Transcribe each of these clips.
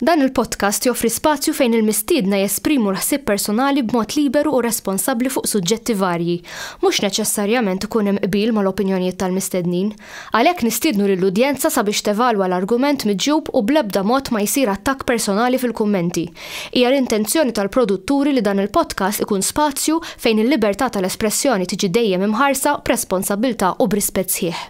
Dan il-podcast joffri spazju fejn il-mistiedna jesprimu l-ħsieb personali b'mod liberu u responsabbli fuq suġġetti varji. Mhux neċessarjament ikun hemm qbil mal-opinjonijiet tal-mistednin. Għalhekk nistiednu lill-udjenza sabiex tevalwa l-argument miġjub u bl-ebda mod ma jsir attakk personali fil-kummenti. Hija l-intenzjoni tal-produtturi li dan il-podcast ikun spazju fejn il-libertà tal-espressjoni tiġi dejjem imħarsa b'responsabbiltà u b'rispett sħiħ.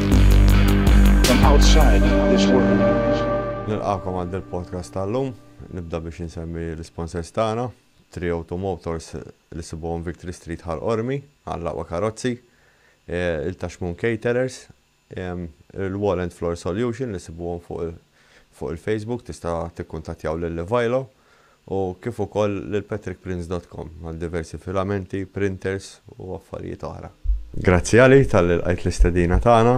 Nilqakom għal del podcast tal-lum, nibda biex insemmi l-sponsors tagħna, Trio to Motors li sibuhom Victory Street Ħal Qormi għal aqwa karozzi, il-Tashmoon Caterers, il-Wall and Floor Solution li sibuhom fuq Fuq il-Facebook tista' tikkuntattjaw lil Ivailo u kif ukoll lil patrickprince dot com għal diversi filamenti, printers u affarijiet oħra. Grazzi Ali talli lqajt l-istedina tagħna.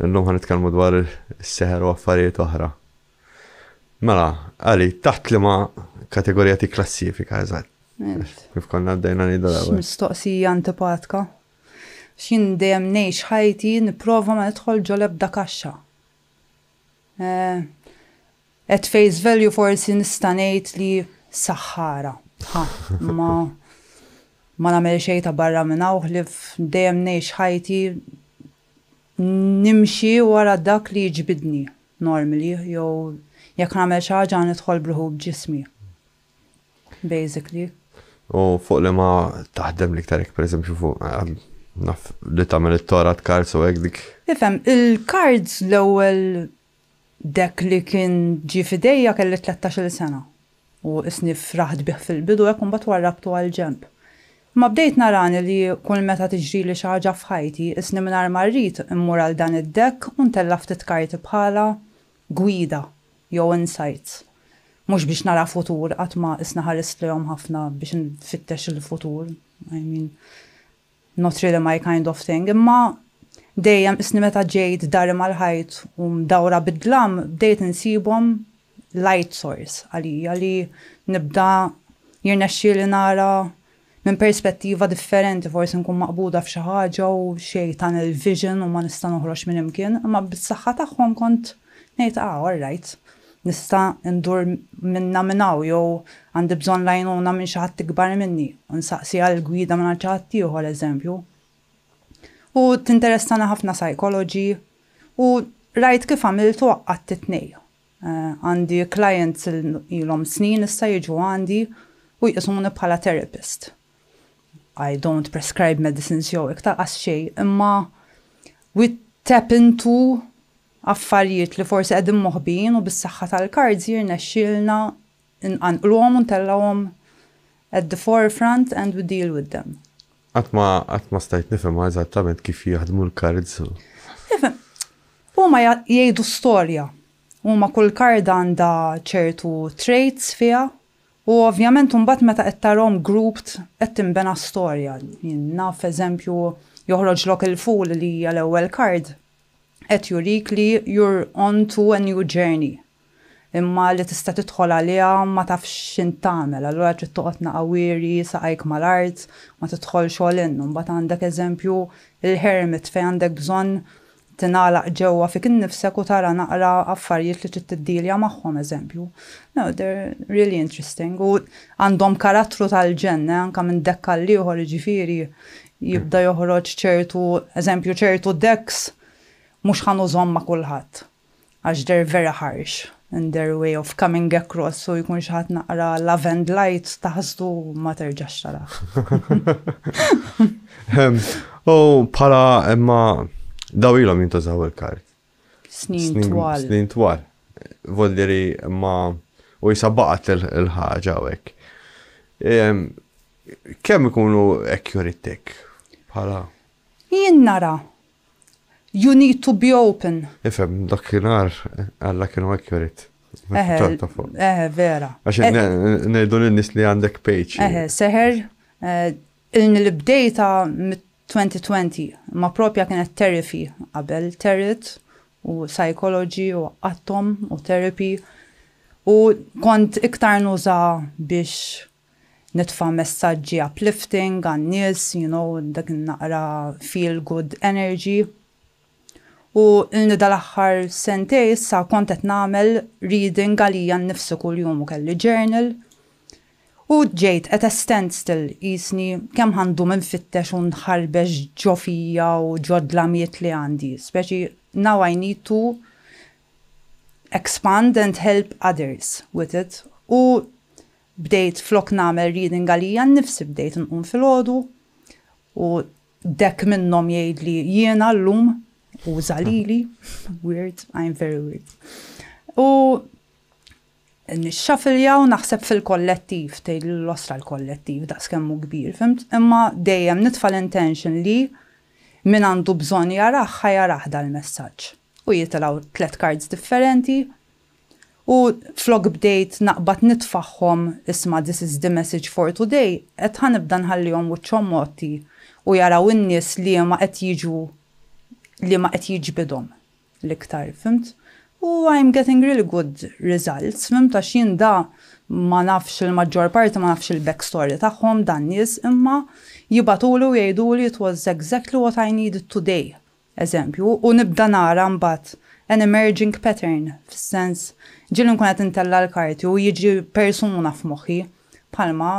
Illum ħa nitkellmu dwar is-seħer u affarijiet oħra. Mela, Ali, taħt liema kategorija tikklassifika eżatt? Kif konna bdejna ngħidu l-ewwel. X'mistoqsija antipatka. X'jien dejjem ngħix ħajti nipprova ma nidħol ġol ebda kaxxa. Eh, at face value forsi nista' ngħid li saħħara. Ha, ma ma nagħmel xejn ta' barra minn hawn ħlief dejjem ngħix ħajti nimxi wara dak li jiġbidni normally jew jekk nagħmel xi ħaġa nidħol bruħu b'ġismi. Basically. U fuq li ma taħdem l-iktar jekk pereżempju fuq naf li tagħmel it-torat cards u hekk dik. Ifhem, il-cards l-ewwel deck li kien ġie f'idejja kelli tlettax-il sena u qisni fraħt bih fil-bidu hekk u mbagħad warrabtu għal ġenb. Imma bdejt narani li kull meta tiġrili xi ħaġa f'ħajti qisni mingħajr ma rrid immur għal dan id-deck u ntella' ftit karti bħalha gwida jew insights mhux biex nara futur qatt ma qisni ħarist lejhom ħafna biex infittex il-futur I mean not really my kind of thing imma dejjem qisni meta ġejt dari mal-ħajt u mdawra bid-dlam bdejt insibhom light source għalija li nibda jirnexxieli nara Minn perspettiva differenti forsi nkun maqbuda f'xi ħaġa u xi tunnel vision u ma nista' noħroġ minn imkien, imma bis-saħħa tagħhom kont ngħid ah all right, nista' ndur minnha minn hawn jew għandi bżonn l-għajnuna minn xi ħadd ikbar minni u nsaqsi għal gwida mingħand xi ħadd ieħor eżempju. U tinteressani ħafna psychology u rajt kif għamilt u għaqqadt it-tnejn. Għandi clients li ilhom snin issa jiġu għandi u jqisuni bħala therapist. I don't prescribe medicines jew hekk tal-qas xejn, imma we tap into affarijiet li forsi qegħdin moħbijin u bis-saħħa tal-cards jirnexxielna Inqanqluhom u ntellgħuhom at the forefront and we deal with them. Qatt ma qatt ma stajt nifhemha eżattament kif jaħdmu l-kards. Tifhem, huma jgħidu storja. Huma kull karda għandha ċertu traits fiha u ovvjament imbagħad meta qed tarahom grouped qed tinbena storja. Jien naf eżempju joħroġlok il-fool li hija l-ewwel kard qed jurik li you're on to a new journey. imma li tista' tidħol għaliha ma tafx x'int tagħmel, allura trid toqgħod naqa' wiri saqajk mal-art, ma tidħolx all in. U mbagħad għandek eżempju l-hermit fejn għandek bżonn tingħalaq ġewwa fik innifsek u tara naqra affarijiet li trid tiddilja magħhom eżempju. No, they're really interesting u għandhom karattru tal-ġenn, eh, anke minn dekk għal ieħor jiġifieri jibda joħroġ ċertu, eżempju ċertu decks mhux ħa nużhom ma' kulħadd. għax they're very harsh in their way of coming across u jkun xi ħadd naqra love and light taħsdu ma terġax tarah. U bħala imma daw ilhom jintużaw il-kart. Snin twal. Snin twal. Voldiri ma u jisabbaqat il-ħaġa u hekk. Kemm ikunu ekk jurittek bħala? Jien nara You need to be open. Ifhem, dakinhar Alla kienu hekk jorid. Eħe, vera. Għax ngħidu lin-nies li għandek page. Eħe, seħer eh, ilni li bdejta mit-2020, ma propja kienet therapy qabel terit u psychology u għattom u therapy u kont iktar nuża biex nitfa' messaġġi uplifting għan-nies, you know, dak in-naqra feel good energy. U ilni dal-aħħar sentejn issa kont qed nagħmel reading għalija nnifsi kuljum u kelli journal. U ġejt at a standstill qisni kemm ħa ndum infittex u nħarbex ġo fija u ġo dlamiet li għandi, speċi now I need to expand and help others with it. U Bdejt flok nagħmel reading għalija nnifsi bdejt nqum filgħodu u dekk minnhom jgħidli jiena llum u żagħlili, weird, I'm very weird. U nixxafilja u naħseb fil-kollettiv, tgħid l-osra l-kollettiv daqskemm hu kbir, fimt? Imma dejjem nitfa' l-intention li min għandu bżonn jarah ħa jarah dal-messaġġ. U jitilgħu tliet cards differenti U flok bdejt naqbad nitfagħhom isma' this is the message for today, qed ħa nibda nħallihom wiċċhom mgħotti u jaraw in-nies liema qed jiġu liema qed jiġbidhom l-iktar, fhimt? U I'm getting really good results, fhimt, għax jien da ma nafx il-maġġor parti ma nafx il-back story tagħhom dan-nies imma jibgħatuli u jgħiduli it was exactly what I needed today. eżempju, u nibda nara mbagħad an emerging pattern, fis-sens, ġieli nkun qed intella' l-karti u jiġi persuna f'moħħi, bħalma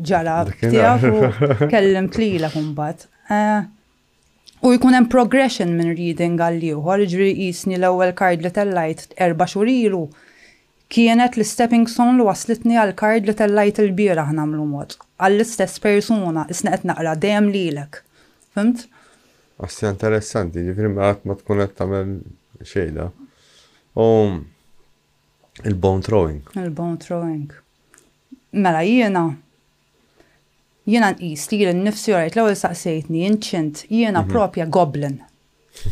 ġara tiegħek u kellimt lilek imbagħad. Eh, u jkun hemm progression minn reading għal ieħor, jiġri jisni l-ewwel kard li tellajt erba' xhur ilu kienet l-stepping stone li waslitni għal kard li tellajt il-bieraħ nagħmlu mod. Għall-istess persuna, isni qed naqra dejjem lilek. Fimt? Asja interessanti, ġifiri ma għat ma tkun għat tamel xejda. U il-bone throwing. Il-bone throwing. Mela jiena jiena nqis li jiena nifsi għajt l-ewwel saqsejtni inċint jiena mhm. propja goblin.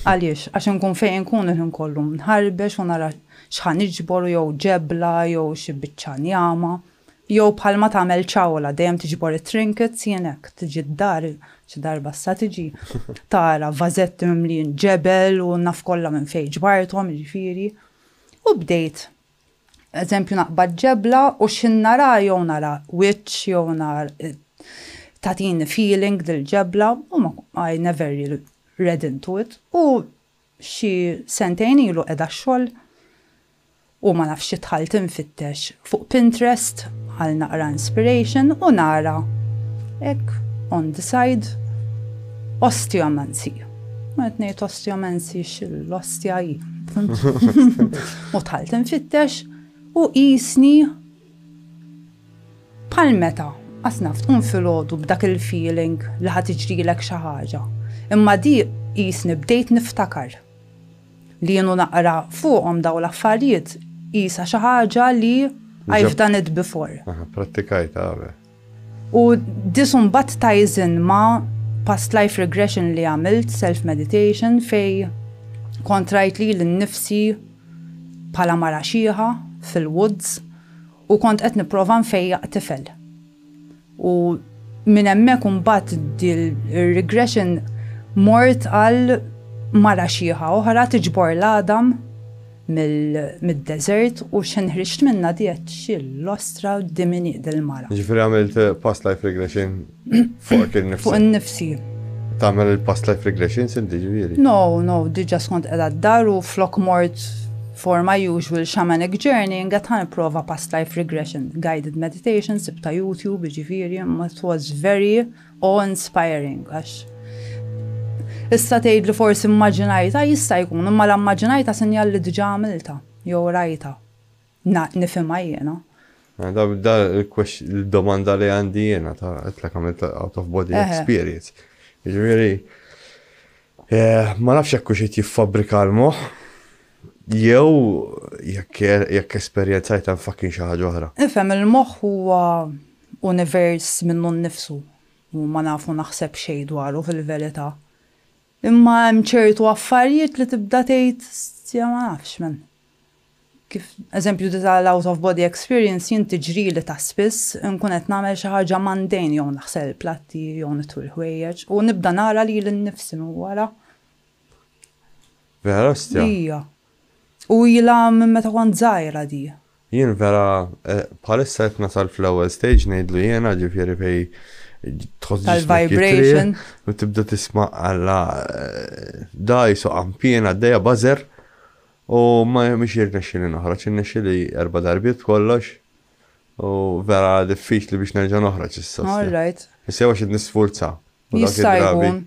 Għaliex, għax nkun fejn nkun il kollu nħarbex u nara xħan iġbor jew ġebla jew xi biċċa njama. Jew bħalma tagħmel Ciaola, dejjem tiġbor it-trinkets, jien hekk, tiġi d-dar, xi darba issa tiġi, tara vażetti mimlijin ġebel u naf kollha minn fejn ġbarthom, jiġifieri. U bdejt, eżempju naqbad ġebla u x'ħin nara jew nara wiċċ jew nar tagħtini feeling dil-ġebla u ma I never really read into it u Xi sentejn ilu qiegħda x-xogħol u ma nafx xi dħalt infittex fuq Pinterest għal naqra inspiration u nara hekk on the side osteomancy. U qed ngħid osteomancy x'l-ostja hi. U dħalt infittex u qisni Bħal meta, qatt naf, tqum filgħodu b'dak il-feeling li ħa tiġrilek xi ħaġa. Imma dik qisni bdejt niftakar li jien u naqra fuqhom dawn l-affarijiet qisha xi ħaġa li I've done it before. Aha, pprattikajtha qabel. U this mbagħad ties in ma' past life regression li għamilt, self meditation, fej kont rajt lili nnifsi bħala mara xieħa fil-woods u kont qed nipprova nfejjaq tifel. U minn hemmhekk u mbagħad dil-regression mort għal mara xieħa oħra tiġbor l-għadam mid-deżert u xejn ħriġt minnha diet xi l-ostra quddiem iniq dil-mara. Jiġifieri għamilt past life regression fuqek innifsek? Fuq innifsi. Tagħmel il-past life regressions inti ġifieri? No, no, diġà skont qiegħda d-dar u flok mort for my usual shamanic journey, nget ħan prova past life regression, guided meditation, sibta YouTube, ġifiri, it was very Awe inspiring għax issa tgħid li forsi mmaġinajtha jista' jkun imma la mmaġinajtha sinjal li diġà għamiltha jew rajtha. Nifhimha jiena. Da l-domanda li għandi jiena ta' qedtlek għamilt out of body experience. Jiġifieri eh, ma nafx jekk hux jiffabrika l-moħħ jew jekk esperjenzajt hemm fakkin xi ħaġa oħra. Ifhem il-moħħ huwa Univers minnu nnifsu u ma nafu naħseb xejn dwaru fil-verità. Imma hemm ċertu affarijiet li tibda tgħid stja ma nafx men. Kif eżempju di ta' l-out of body experience jien tiġrili ta' spiss inkun qed nagħmel xi ħaġa mundane jew naħsel il-platti jew nitwi l-ħwejjeġ u nibda nara lili nnifsi minn wara. Vera stja? Ija. U ilha minn meta kont żgħira di. Jien vera bħalissa qed nasal fl-ewwel stage ngħidlu jiena ġifieri fej tħoss ġismek jitrieħ u tibda tisma' alla dgħajs u qanpien għaddejja buzzer u ma mhix jirnexxieli noħroġ irnexxieli erba' darbiet b'kollox u vera diffiċli biex nerġa' noħroġ issa. All right. Issa jew għax qed nisfurza. U dak Jista' id-drabi jkun.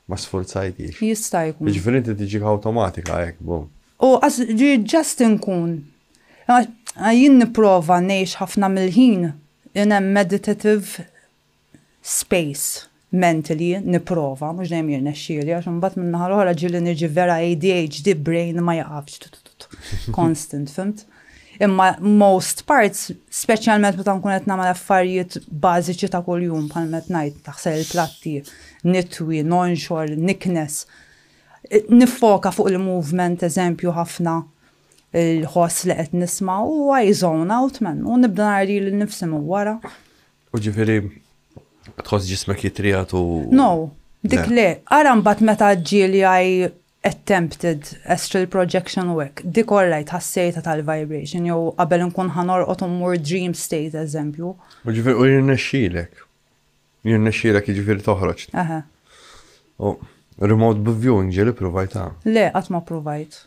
ma sfurzajkix. Jista' jkun. Jiġifieri inti tiġik awtomatika hekk, bum. U għax ġi just inkun. Għax jien nipprova ngħix ħafna mill-ħin in a meditative space mentally, nipprova, mhux dejjem jirnexxieli għax imbagħad min-naħa l-oħra ġieli niġi vera ADHD brain ma jieqafx constant, fhimt? Imma most parts, speċjalment meta nkun qed nagħmel affarijiet bażiċi ta' kuljum bħal met ngħid taħsel il-platti, nitwi, nonxor, niknes. Nifoka fuq il-movement eżempju ħafna il-ħoss li qed nisma' u I zone out man u nibda nari lil nifsi minn wara. U ġifieri tħoss ġismek jitrijat u. No, dik le, ara mbagħad meta ġieli I attempted astral projection u hekk, dik orajt ħassejtha tal-vibration jew qabel inkun ħa norqod u mmur dream state eżempju. U ġifieri u jirnexxilek. Jirnexxilek jiġifieri toħroġ. Eħe. U remote viewing ġieli ppruvajtha? Le, qatt ma ppruvajt.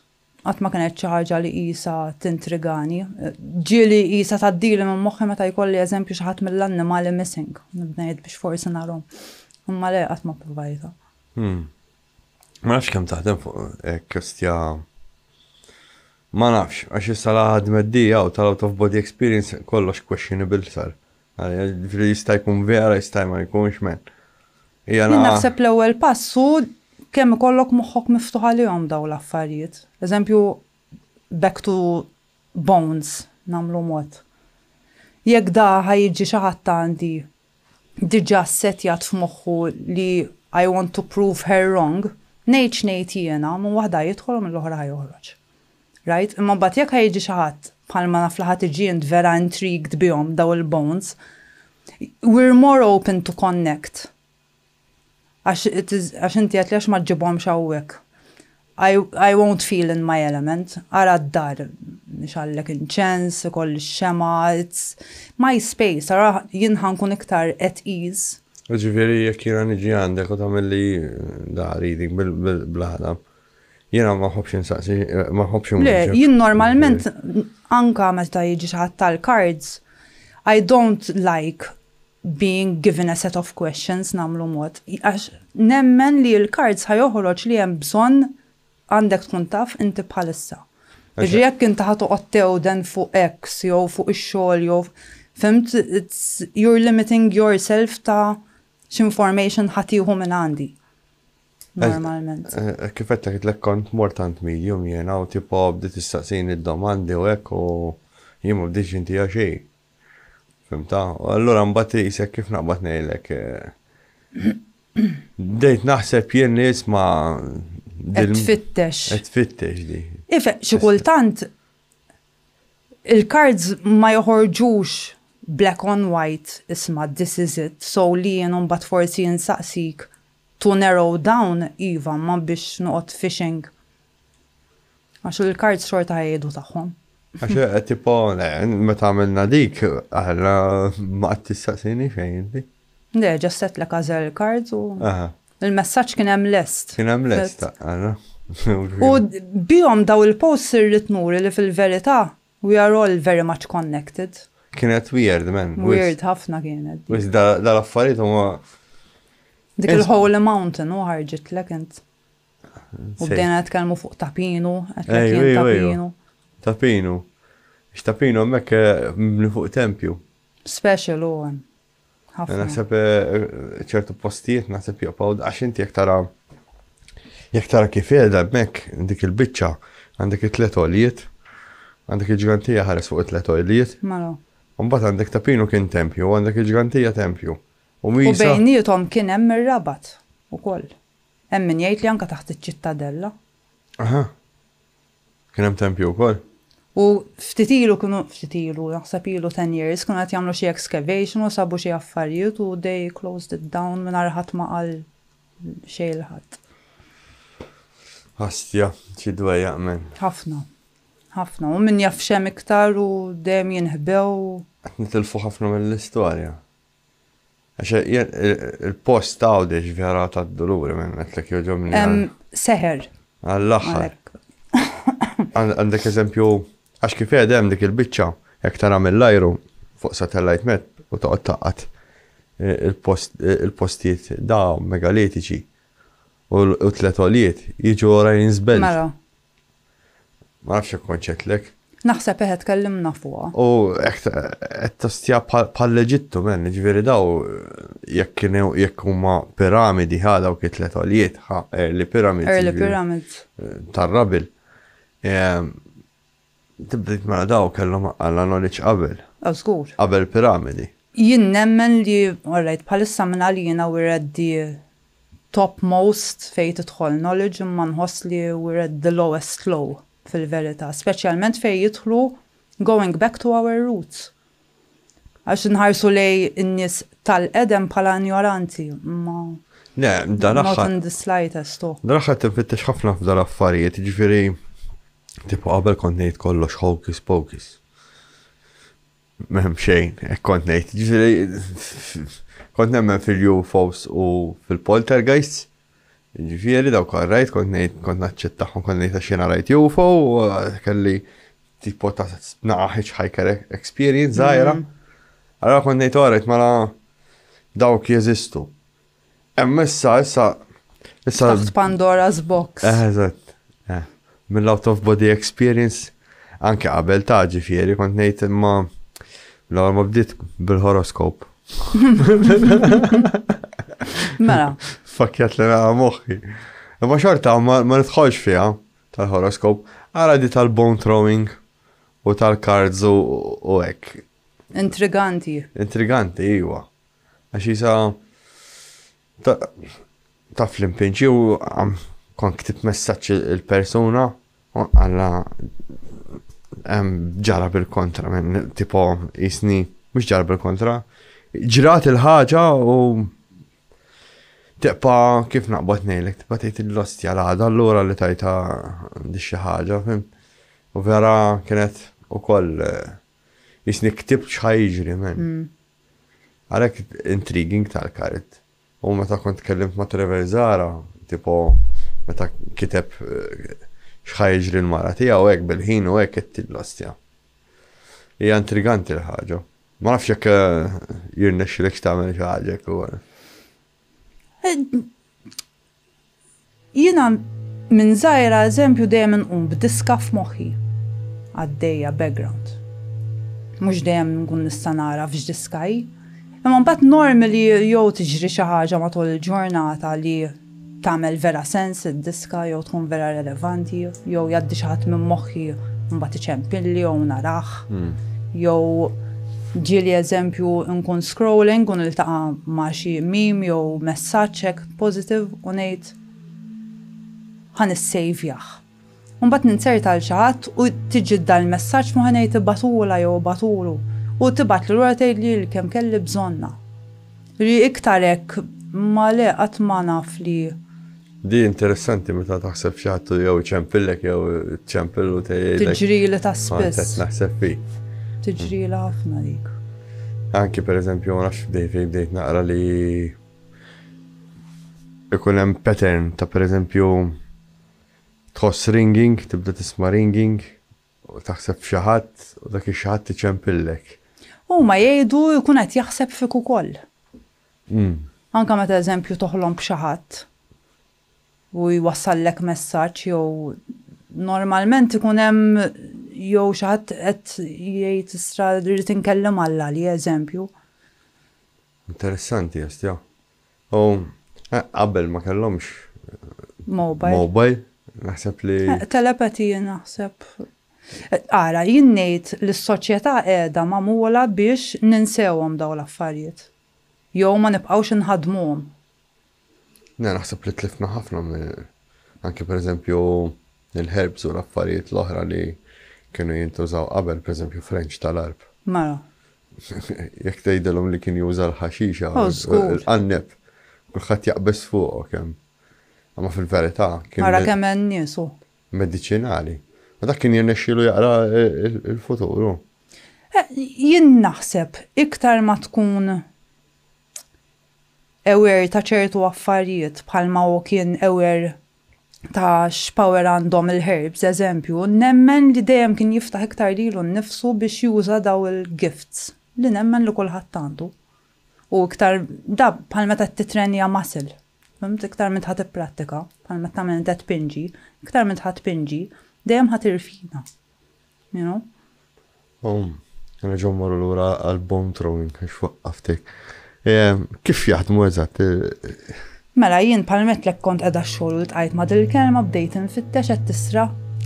Qatt ma kienet xi ħaġa li qisha tintrigani. Ġieli qisha tgħaddili minn moħħi meta jkolli eżempju xi ħadd mill-annimali missing. Nibda ngħid biex forsi narahom. Imma le qatt ma ppruvajtha. Ma nafx kemm taħdem fuq hekk kestja. Ma nafx, għax issa la ħadmet di u tal-out of body experience kollox questionable sar. Ġifri jista' jkun vera, jista' ma jkunx men. Jien naħseb l-ewwel pass hu kemm ikollok moħħok miftuħ għalihom dawn l-affarijiet. Eżempju, back to bones, nagħmlu mod. Jekk da ħa jiġi xi ħadd għandi diġà ssettjat f'moħħu li I want to prove her wrong, ngħid x'ngħid jiena, minn waħda ħa jidħol u mill-oħra ħa joħroġ. Rajt? Imma mbagħad jekk ħa jiġi xi ħadd, bħalma naf li ħa tiġi int vera intrigued bihom dawn il-bones, we're more open to connect Għax għax inti għedtli għax ma ġġibhomx hawnhekk. I, I won't feel in my element. Ara d-dar. Nixgħallek inċens, ikolli x-xemgħa, it's my space, ara jien ħa nkun iktar at ease. Jiġifieri jekk jiena niġi għandek u tagħmilli dari dik bil-għadam, jiena ma nħobbx insaqsi, ma nħobbx Le, inwieġeb. jien normalment anke meta jiġi xi ħadd tal-cards, I don't like being given a set of questions nagħmlu mod għax nemmen li l-cards ħa joħroġ li hemm bżonn għandek tkun taf inti bħalissa. Jiġifieri jekk inti ħa toqgħod tewden fuq X jew fuq ix-xogħol jew fhimt it's you're limiting yourself ta' x'information ħa tieħu minn għandi normalment. Kif qed ngħidlek kont mort għand medium jiena u tipo bdiet tistaqsini d-domandi u hekk u jien ma bdejtx intiha xejn. Fimta? U allura mbagħad isek kif naqbad ngħidlek. Bdejt naħseb jien li isma' Qed tfittex. Qed tfittex di. Ife, xi kultant il-cards ma joħorġux black on white isma' this is it, so li jien mbagħad forsi insaqsik to narrow down iva ma biex noqgħod fishing Għax il-kards xorta ħajjedu tagħhom. Għax eh, tipo, eh, meta għamilna dik, għalla ma għad tistaqsini xejn inti. Le, ġasset l għazel cards u. Il-messaġġ kien hemm lest. Kien hemm lest, għalla. U bihom daw il-posts irrid nuri li fil-verità we are all very much connected. Kienet weird, man. Weird ħafna kienet. Wis dal-affarijiet huma. Dik il-Holy Mountain u ħarġitlek int. U bdejna nitkellmu fuq Tapinu, għedt li kien Tapinu. Tapinu. X'Tapinu hemmhekk mibni fuq tempju. Special hu hemm. Ħafna. Naħseb ċertu postijiet naħseb joqgħu għax inti jekk tara jekk tara kif qiegħda hemmhekk dik il-biċċa għandek it-tlet għolijiet, għandek il-ġgantija ħares fuq it-tlet għolijiet. Mela. Mbagħad għandek Tapinu kien tempju, għandek il-ġgantija tempju. U bejnietom kien hemm ir-rabat ukoll. Hemm min jgħid li anke taħt iċ-Ċittadella. Aha. Kien hemm tempju wkoll? U ftit ilu kienu, ftit ilu, naħseb ilu 10 years, kienu qed jagħmlu xi excavation u sabu xi affarijiet u they closed it down mingħajr ħadd ma qal xejn ħadd. Ħastja, xi dwejjaq men. Ħafna. Ħafna. U min jaf xem iktar u dejjem jinħbew. Qed nitilfu ħafna mill-istorja. Għax jien il-post ta' għawdex vera ta' d-doluri minn għetlek joġobni. Seher. Għall-axħar. Għandek eżempju, għax kif hemm dik il-bicċa, jek tara mill-ajru fuq satellite map u ta' taqqat eh, il-postijiet da' megalitiċi u t-tletolijiet jiġu rajn zbel. Mela. Ma nafx jekk kontx għedtlek. Naħseb eħe tkellimna fuqha. U hekk qed tostja bħall-Eġittu men, ġifieri daw jekk kienu jekk huma piramidi ħa dawk it-tliet għoljiet ħa early pyramids. Early jiġifieri, pyramids. Eh, Tar-rabil. Ehm, Tibdejt ma mela daw kellhom għalla knowledge qabel. Ah, żgur. Qabel piramidi. Jien nemmen li, alright, bħalissa minn għalina we're at the top most fejn tidħol knowledge imma nħoss li we're at the lowest low fil-verità, speċjalment fejn jidħlu going back to our roots. Għax inħarsu lejn in-nies tal-qedem bħala injoranti, imma Le, dal-aħħar. Not in the slightest. Oh. Dal-aħħar tinfittex ħafna f'dal affarijiet, ġifieri tipo qabel kont ngħid kollox hocus pocus. M'hemm xejn, hekk kont ngħid. Jiġifieri kont nemmen fil-UFOs u fil-poltergeists. Jiġifieri dawk rajt kont ngħid kont naċċettahom kont ngħid għax jiena rajt UFO u kelli tipo ta' naqa' hitchhiker experience żgħira. Allora kont ngħid orajt mela dawk jeżistu. Hemm issa, issa. Issa. Taħt Pandora's Box. Eh, eżatt. Eh, mill-out of body experience, anke qabel ta' ġifieri, kont ngħid imma l-għor ma bdiet bil-horoskop. Mela. Fakjat li naqa moħħi. Imma xorta ma nidħolx fiha tal-horoskop, għara di tal-bone throwing u tal-cards u hekk. Intriganti. Intriganti, iwa. Għax jisa taf l-impinċi u kont ktib messaċ il-persuna u għalla ġara bil-kontra minn tipo jisni mux ġara bil-kontra ġrat il-ħaġa u teqpa kif naqbad nejlek teqpa tejt il-lostja l-ħada l-lura li tajta di xi ħaġa u vera kienet u koll jisni ktib xħajġri minn. Mm. Għalhekk intriguing tal-kart. U meta kont tkellimt ma' Trevor Zahra, tipo meta kiteb x'ħa jiġri l-mara tiegħu hekk bil-ħin u hekk għedtillu ostja. Hija intriganti l-ħaġa. Ma nafx jekk jirnexxilekx tagħmel xi ħaġa hekk ukoll. Jiena minn żgħira eżempju dejjem inqum b'diska f'moħħi għaddejja background. Mhux dejjem nkun nista' nagħraf x'diska hi. Imma mbagħad norm li jew tiġri xi ħaġa matul il-ġurnata li tagħmel vera sens id-diska jew tkun vera relevanti jew jgħaddi xi ħadd minn moħħi u mbagħad iċempilli jew narah. Jew ġieli eżempju nkun scrolling u niltaqa' ma' xi meme jew messaġġ hekk. positive u ngħid ħa nissejvjah. U mbagħad ninzert għal xi ħadd u tiġi dan il-messaġġ moħħi ngħid ibatulha jew ibatulu u tibgħatli lura tgħidli li kemm kelli bżonnha. Li iktar hekk ma le qatt ma naf li Di interessanti meta taħseb xi ħadd jew iċempillek jew iċċempil u tgħidlek. Tiġrili ta' spiss. Naħseb fi. Tiġrili ħafna dik. Anki pereżempju ma nafx bdejt bdejt naqra li ikun hemm pattern ta' pereżempju tħoss ringing, tibda tisma' ringing, u taħseb f'xi ħadd u dak ix-xi ħadd iċempillek. Huma jgħidu jkun qed jaħseb fik ukoll. Mm. Anke meta eżempju toħlom b'xi ħadd u jwassallek messaġġ jew normalment ikun hemm jew xi ħadd qed jgħid isra rrid inkellem Alla li eżempju. Interessanti jastja. U eh, qabel ma kellhomx Mobile. mobile, naħseb li Eh, Telepathy naħseb. Eh, Ara, jien ngħid li s-soċjetà qiegħda magħmula biex ninsewhom dawn l-affarijiet. Jew ma nibqgħux inħaddmuhom. Jiena naħseb li tlifna ħafna anke pereżempju l-herbs u l-affarijiet l-oħra li kienu jintużaw qabel pereżempju f'range tal-għarb. Mela. Jekk tgħidilhom li kien juża l-ħaxixa u l-qanneb, kulħadd jaqbeż fuqok hemm. Imma fil-verità kien. Mara kemm hemm nies hu. Mediċinali. Ma dak kien jirnexxielu jaqra l-futur hu. Jien naħseb iktar ma tkun aware ta' ċertu affarijiet bħalma hu kien aware ta' x'power għandhom il-herbs, eżempju, nemmen li dejjem kien jiftaħ iktar lilu nnifsu biex juża dawn il-gifts li nemmen li kulħadd għandu. U iktar da bħal meta qed tittrenja muscle, fhimt, iktar m'int ħa tipprattika, bħal meta tagħmel inti qed tpinġi, iktar m'int ħa tpinġi, dejjem ħa tirfina. you know. U nerġgħu mmorru lura għal bone throwing għax waqqaftek. Ehm, kif jaħdmu eżatt? Mela jien palmetlek kont qiegħda xogħol u tqajt ma' dil-kelma bdejt infittex qed tisra.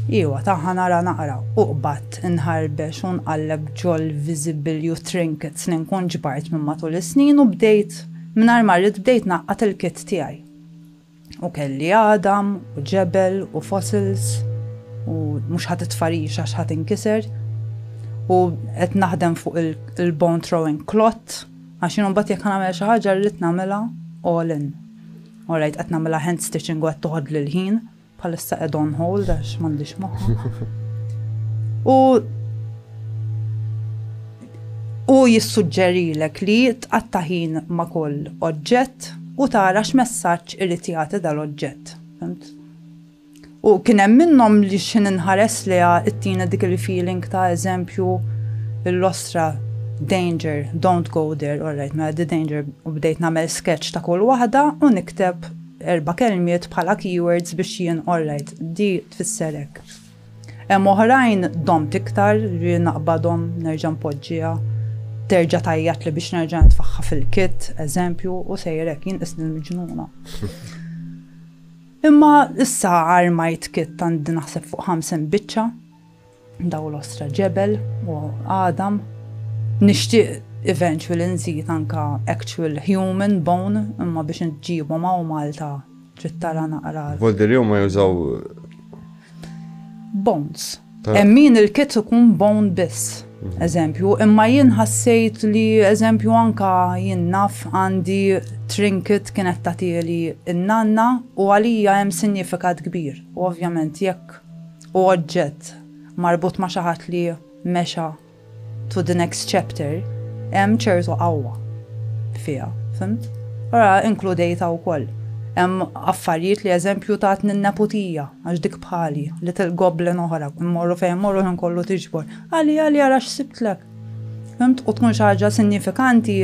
Iwa taħħa nara naqra u qbad inħarbex u nqalleb ġol visibilju trinkets li nkun ġbart minn matul is-snin u bdejt mingħajr ma rrid bdejt naqqat il-kit tiegħi. U kelli għadam, u ġebel, u fossils, u mhux ħadd it-tfarix għax ħadd inkiser. U qed naħdem fuq il-bone throwing clot, għax jien mbagħad jekk nagħmel xi ħaġa rrid nagħmilha all in. Alright, qed nagħmilha hand stitching u qed toħod lil ħin, bħalissa qed on hold għax m'għandix moħħ. U Hu jissuġġerilek li tqatta' ħin ma' kull oġġett u tara x'messaġġ irid jagħti dal-oġġett. Fhimt? U kien hemm minnhom li x'ħin inħares lejha ittina dik il-feeling ta' eżempju l-ostra danger, don't go there, all right, mela the danger u bdejt nagħmel sketch ta' kull waħda u nikteb erba' kelmiet bħala keywords biex jien all right, di tfisser hekk. Hemm oħrajn domt iktar, jiġifieri naqbadhom, nerġa' npoġġiha, terġa' tgħajjatli biex nerġa' nitfagħha fil-kit, eżempju, u sejjer hekk, jien qisni l-miġnuna. Imma issa armajt kit għandi naħseb fuq 50 biċċa, daw l-ostra ġebel u għadam. Nixtieq eventually nżid anka actual human bone imma biex nġibhom hawn Malta Trid tara naqra. Volderjew ma jużaw. Bones. Hemm min il-kit ikun bone biss. Mhm. Eżempju, imma jien ħassejt li eżempju anka jien naf għandi trinket kienet tagħtieli n-nanna u għalija hemm sinjifikat kbir. U ovvjament jekk u oġġett marbut ma' xi ħadd li mexa to the next chapter hemm ċertu qawwa fiha, fimt? Ora inkludejta wkoll. Hemm affarijiet li eżempju tatni n-neputija, għax dik bħali, li til-goblen oħra, immorru fejn morru ħin kollu tiġbor. Għali għali għara x'sibtlek. Fimt? U tkun xi ħaġa sinjifikanti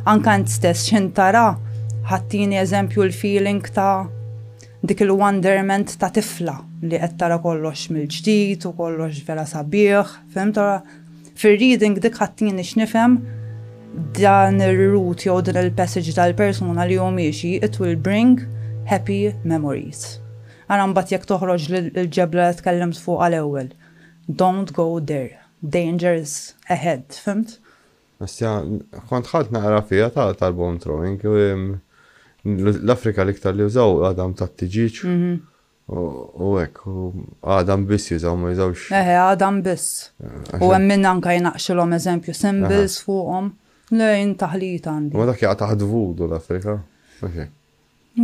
anke int stess x'in tara ħattini eżempju l-feeling ta' dik il-wonderment ta' tifla li qed tara kollox mill-ġdid u kollox vera sabiħ. Fehmt ara, fir-reading dik ħattini x'nifhem dan ir-root jew din il-passage tal-persuna li hu miexi, it will bring happy memories. Ara mbagħad jekk toħroġ l-ġebla li tkellimt fuqha l-ewwel, don't go there, dangers ahead, fhimt? Asja, kont ħadt naqra fiha ta' tal-bone throwing, l-Afrika l-iktar li użaw għadam tat-tiġiġ. Mhm. U hekk, u għadam biss jużaw, ma jużawx. Eħe, għadam biss. U hemm min anke jnaqqxilhom eżempju symbols fuqhom. Le, jien taħlita għandi. Imma dak jaqa' taħt Voodoo l-Afrika, mhux hekk?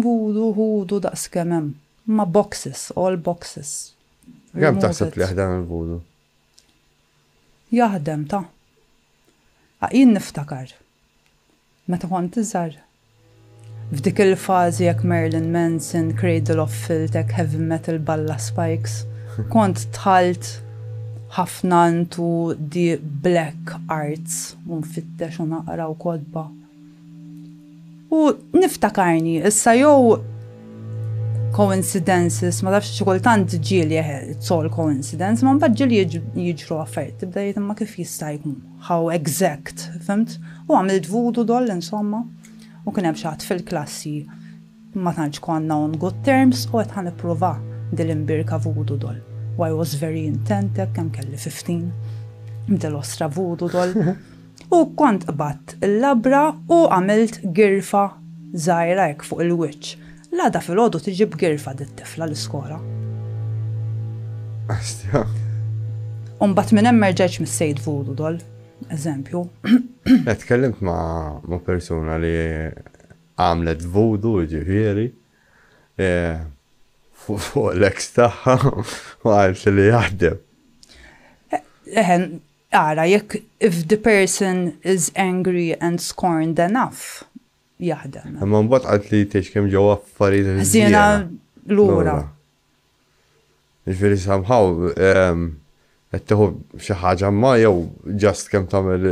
Voodoo, Hoodoo, daqs kemm hemm. Huma boxes, all boxes. Kemm taħseb li jaħdem il-Voodoo? Jaħdem, ta. Jien niftakar. Meta kont iżgħar. F'dik il-fażi hekk Marilyn Manson, Cradle of Filth hekk heavy metal b'alla spikes. Kont dħalt ħafna into the black arts u nfittex u naqra u kotba. U niftakarni issa jew coincidences ma tafx xi kultant ġieli eħe it's all coincidence imma mbagħad ġieli jiġru affarijiet tibda jgħid imma kif jista' jkun. How exact, fimt? U għamilt voodoo doll insomma. U kien hemm xi ħadd fil-klassi, ma tantx konna on good terms, u għedt ħa nipprova din l-imbirka voodoo doll. U I was very intent hekk, kemm kelli fifteen, b'din l-ostra voodoo doll. U kont qbadt il-labra u għamilt girfa żgħira hekk fuq il-wiċċ. L-għada filgħodu tiġi b'girfa dit-tifla l-iskola. Astja. U mbagħad minn hemm merġajtx mis-Sejd Voodoo dol, eżempju. Qed tkellimt ma' persuna li għamlet voodoo ġifieri e, fuq l-eks tagħha u għalt li jaħdem. Eħen, għara, jekk if the person is angry and scorned enough, jaħdem. Imma mbagħad qaltli li tgħix kemm ġewwa affarijiet ħżiena lura. Jiġifieri somehow qed tieħu xi ħaġa imma jew just kemm tagħmel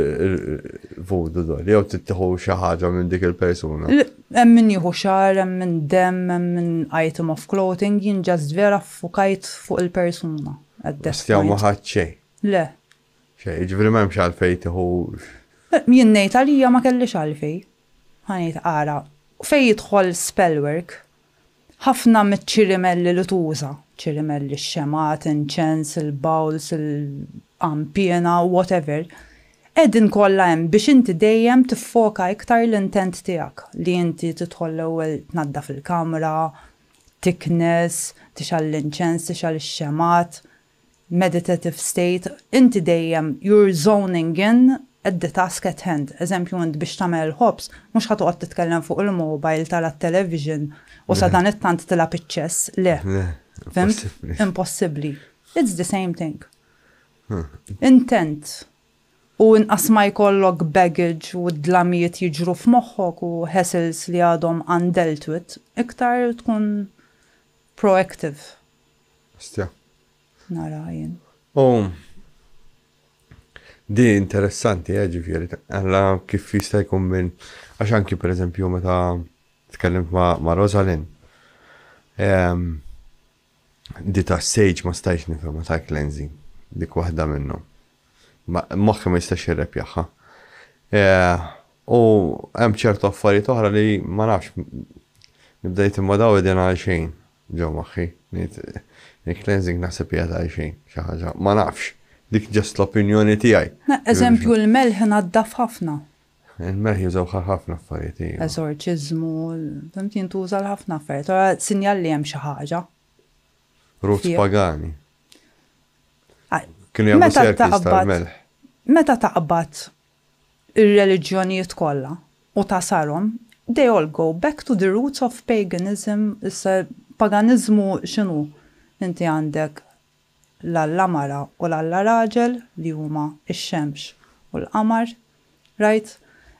voodoo dol, jew tittieħu xi ħaġa minn dik il-persuna. Hemm min jieħu xagħar, hemm min demm, hemm min item of clothing, jien just vera ffukajt fuq il-persuna. Stjaw ma ħadt xejn. Le, Xejn, jiġifieri m'hemmx għalfejn tieħu. Jien ngħid għalija ma kellix għalfejn. Ħa ngħid ara, fejn jidħol spellwork, ħafna miċ-ċirimelli li tuża, ċirimelli, x-xemgħat, inċens, il-bowls, il-qanpiena, whatever, qegħdin kollha hemm biex inti dejjem tiffoka iktar l-intent tiegħek, li inti tidħol l-ewwel tnaddaf il-kamra, tiknes, tixgħal l-inċens, tixgħal ix-xemgħat, meditative state, inti dejjem you're zoning in at the task at hand. Eżempju, int biex tagħmel il-ħobż mhux ħa toqgħod titkellem fuq il-mobile, tara t-television u sadanittant tilgħab iċ-ċess, le. Fimt? Impossibbli. It's the same thing. Intent u inqas ma jkollok baggage u d-dlamijiet jiġru f'moħħok u hassles li għadhom undealt with, iktar tkun proactive. Stja. Nara jien. U di interessanti, eh, ġifieri, għalla kif jista' jkun minn għax anki pereżempju meta tkellimt ma', ma Rosalind. Ehm, di ta' sage ma stajx nifhem ta' cleansing, dik waħda minnu. Moħħi ma jistax jirrepjaħħa. Eh, u hemm ċertu affarijiet oħra li ma nafx nibdejt imma daw id għal xejn. Ġo moħħi. Ngħid, il-cleansing naħseb hija ta' għalxejn, xi ħaġa, ma nafx. Dik just l-opinjoni tiegħi. Eżempju, l-melħ naddaf ħafna. Il-melħ jużawh għal ħafna affarijiet, iva. Eżorċiżmu, fhimt, jintuża għal ħafna affarijiet. Allura sinjal li hemm xi ħaġa. Roots pagani. Kienu jagħmlu serkis tal-melħ. Meta taqbad ir-reliġjonijiet kollha u ta' sarhom, they all go back to the roots of paganism, issa paganiżmu x'inhu? Inti għandek l-Alla mara u l-Alla raġel li huma x-xemx u l-qamar, rajt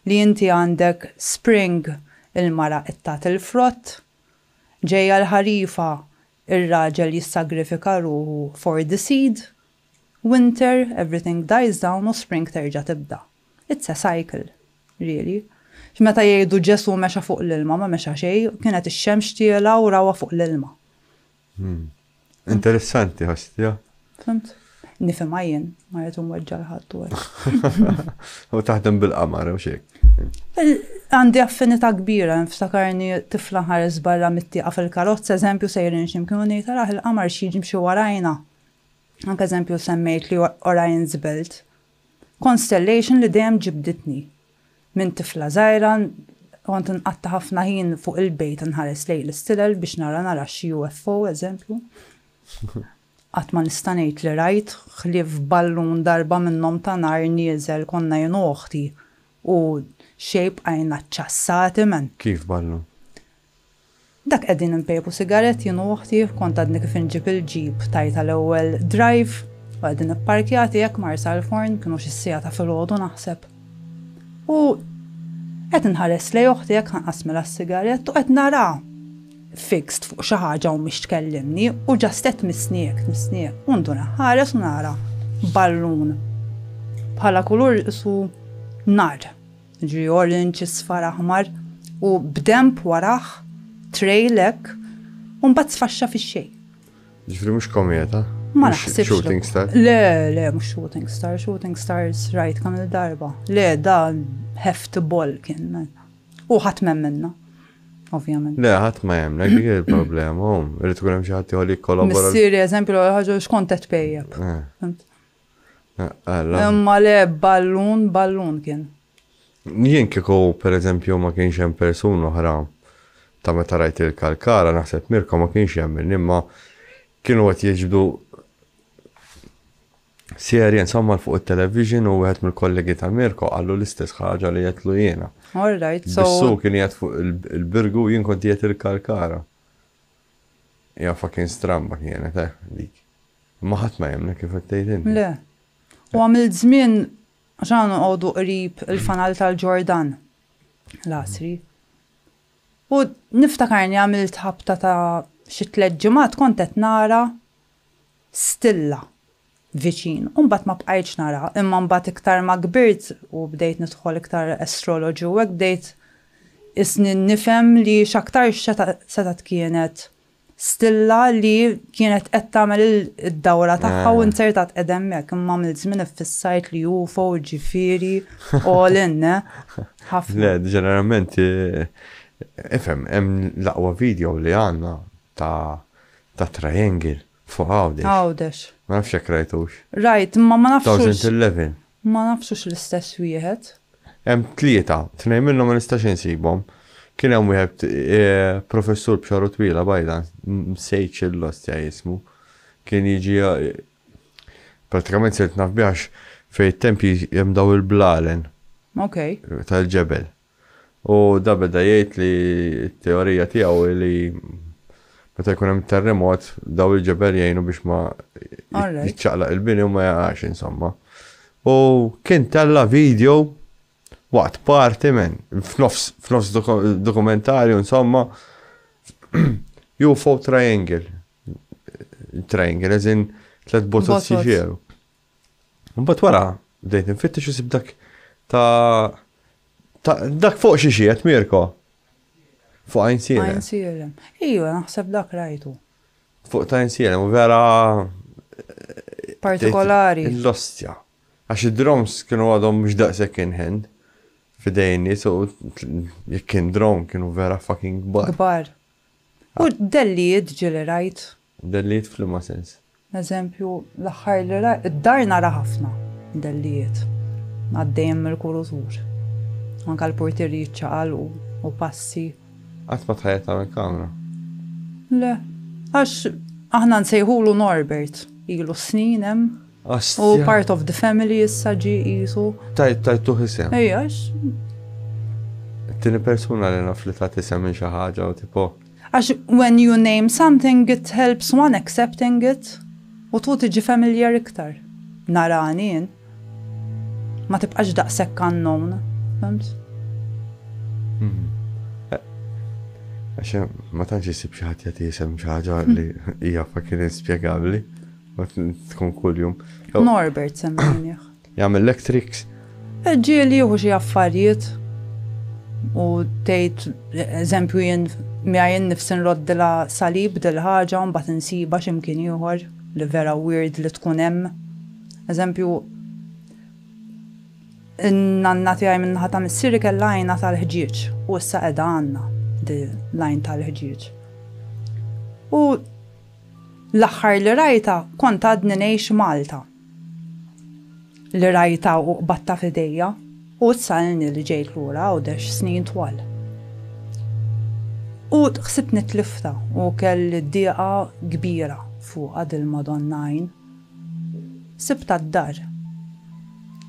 li inti għandek spring il-mara qed tagħti l-frott, ġejja l-ħarifa ir-raġel jissagrifika ruħu for the seed, Winter, everything dies down u spring terġa' tibda. It's a cycle. Really. X'meta jgħidu Ġesù mexa fuq l-ilma, ma mexa xejn, kienet ix-xemx tiela' u rawha fuq l-ilma. Interessanti, ħosstha? Fhimt. Nifhimha jien, ma rrid inweġġa' 'l ħadd u hekk. U taħdem bil-qamar, hux hekk? Għandi affinità kbira, nftakarni tifla nħares barra mit-tieqa fil-karozza, eżempju, sejrin xi mkien u ngħid, araħ il-qamar x'jiġi mxi warajna. Anke eżempju semmejt li Orion's Belt, constellation li dejjem ġibditni. Minn tifla żgħira kont inqatta' ħafna ħin fuq il-bejt nħares lejn l-istilel biex nara nara xi UFO eżempju. Qatt ma nista' ngħid li rajt ħlief ballun darba minnhom ta' nar nieżel konna jien u oħti u xejn bqajna ċċassati m'hemm. Kif ballun? Dak qegħdin inpejpu sigarett jien u oħti, kont għadni kif inġib il-jeep tajtha l-ewwel drive u qegħdin ipparkjati hekk Marsa l-Forn, kienu xi siegħa ta' filgħodu naħseb. U qed inħares lejn oħti hekk ħanqasmilha s-sigarett u qed naraha fixed fuq xi ħaġa u mhix tkellimni u just qed tmissni hekk, tmissni hekk u ndur inħares u nara ballun bħala kulur isu nar. Jiġri orange, isfar, aħmar u b'denb warah, trail hekk, u mbagħad sfaxxa fix-xejn. Ġifri mhux kometa? Ma naħsibx. Shooting star? Le, le, mhux shooting star, shooting stars rajt kam il-darba. Le, da heft ball kien men. U ħadd minna. Ovvjament. Le, ħadd ma jemna, dik il-problema, um, irrid tkun hemm xi ħadd jħolli kollabora. Missieri eżempju l ħaġa xkont qed pejjeb. Eh. Imma le ballun, ballun kien. Jien kieku pereżempju ma kienx hemm persuna oħra ta' meta rajt il-kalkara naħseb Mirko ma kienx jemminni imma kienu qed jiġbdu serje insomma l fuq it-television u wieħed mill-kollegi ta' Mirko qallu l-istess ħaġa li jetlu jiena. All right, so. Bissu kien jgħid fuq il-birgu jien kont jgħid il-kalkara. Hija fucking stramba kienet, eh, dik. Imma ħadd ma jemmnek kif qed tgħid inti. Le. U għamilt żmien għax aħna noqogħdu qrib il-fanal tal-Ġordan l-għasri. U niftakarni għamilt ħabta ta' xi tliet ġimgħat kont qed nara stilla viċin u mbagħad ma bqajtx nara imma mbagħad iktar ma kbirt u bdejt nidħol iktar astrology u hekk bdejt isni nifhem li x'aktarx setgħet kienet stilla li kienet qed tagħmel id-dawra tagħha u inzertat qiegħda hemmhekk imma għamilt żmien iffissajt li UFO ġifieri all in ħafna. Le, ġeneralment ifhem hemm l-aqwa video li għandna ta' Ta' triangle fuq Għawdex. Għawdex. Ma nafx jekk rajtux. Rajt, imma ma nafx hux. Thousand Eleven. Ma nafx hux l-istess wieħed. Hemm tlieta, tnejn minnhom ma nistax insibhom. Kien hemm wieħed professur b'xagħru twila bajda, nsejtx il-lostja ismu. Kien jiġi prattikament sirt naf bih għax fejn it-tempji hemm dawn il-blalen. Ok. Tal-ġebel. U da beda jgħid li t-teorija tiegħu hi li meta jkun hemm terremot daw il-ġebel jgħinu biex ma jiċċaqlaq il-bini u ma jaqax insomma. U kien tella video waqt party men, f'nofs, f'nofs dokumentarju insomma, UFO triangle. Triangle, eżin tlet botot jiġieru. Mbagħad wara bdejt infittex isib dak ta' ta' dak fuq xi xiet Mirko. Fuq għajn sielem. Għajn sielem. Iju, naħseb dak rajtu. Fuq ta' għajn sielem, u vera. Partikolari. L-ostja. Għax id-drones kienu għadhom mhux daqshekk in hand fidejn nies u jekk kien drone kienu vera fucking kbar. Kbar. U dellijiet ġieli rajt. Dellijiet f'liema sens? Eżempju, l-aħħar li ra, id-dar nara ħafna dellijiet għaddejjin mill-kurutur. Anke l-purtieri jiċċaqalqu u passi. Qatt ma tħajjar tagħmel kamra? Le. Għax aħna nsejħulu Norbert. Ilu s-snin hemm. Hu part of the family issa ġie qisu. Tajtuh isem? Ejja, għax. It-tieni persuna li naf li tat isem lil xi ħaġa u tipo. Għax when you name something it helps one accepting it u tħu tiġi familiar iktar. Narani jien. Ma tibqax daqshekk unknown, fimt? Mhm. Għax ma tantx isib xi ħadd jagħti isem xi ħaġa li hija fucking inspjegabbli. Ma tkun kuljum. Norbert semmejnieh. Jagħmel l-electrics. Ġieli jieħu xi affarijiet u tgħid eżempju jien miegħi nnifsi nroddilha salib dil-ħaġa u mbagħad insibha xi mkien ieħor li vera weird li tkun hemm. Eżempju n-nanna tiegħi min-naħa ta' missieri kellha għajnha tal-ħġieġ u issa qiegħda għandna l-għajn tal-ħġieġ. U l-aħħar li rajtha kont għadni ngħix Malta. li rajta u qbadta f'idejja u issa ilni li ġejt lura Għawdex snin twal. U ħsibtni tliftha u kelli dieqa kbira fuqha dil-Madonna Għajn. Sibtha d-dar.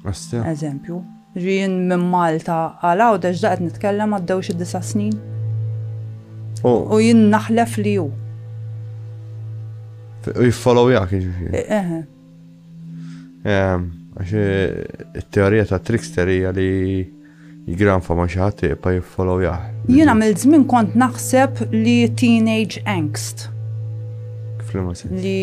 Astea. Eżempju. Jien minn Malta għal Għawdex daqt nitkellem għaddew xi disa' snin. U jien naħlef li hu. U jiffollowjak jiġifieri. Eh, eh, eh. Għax it-teorija ta' trickster hija li jgranfa ma xi ħadd iqpa jiffollowjah. Jien għamil żmien kont naħseb li teenage angst. Kif li ma Li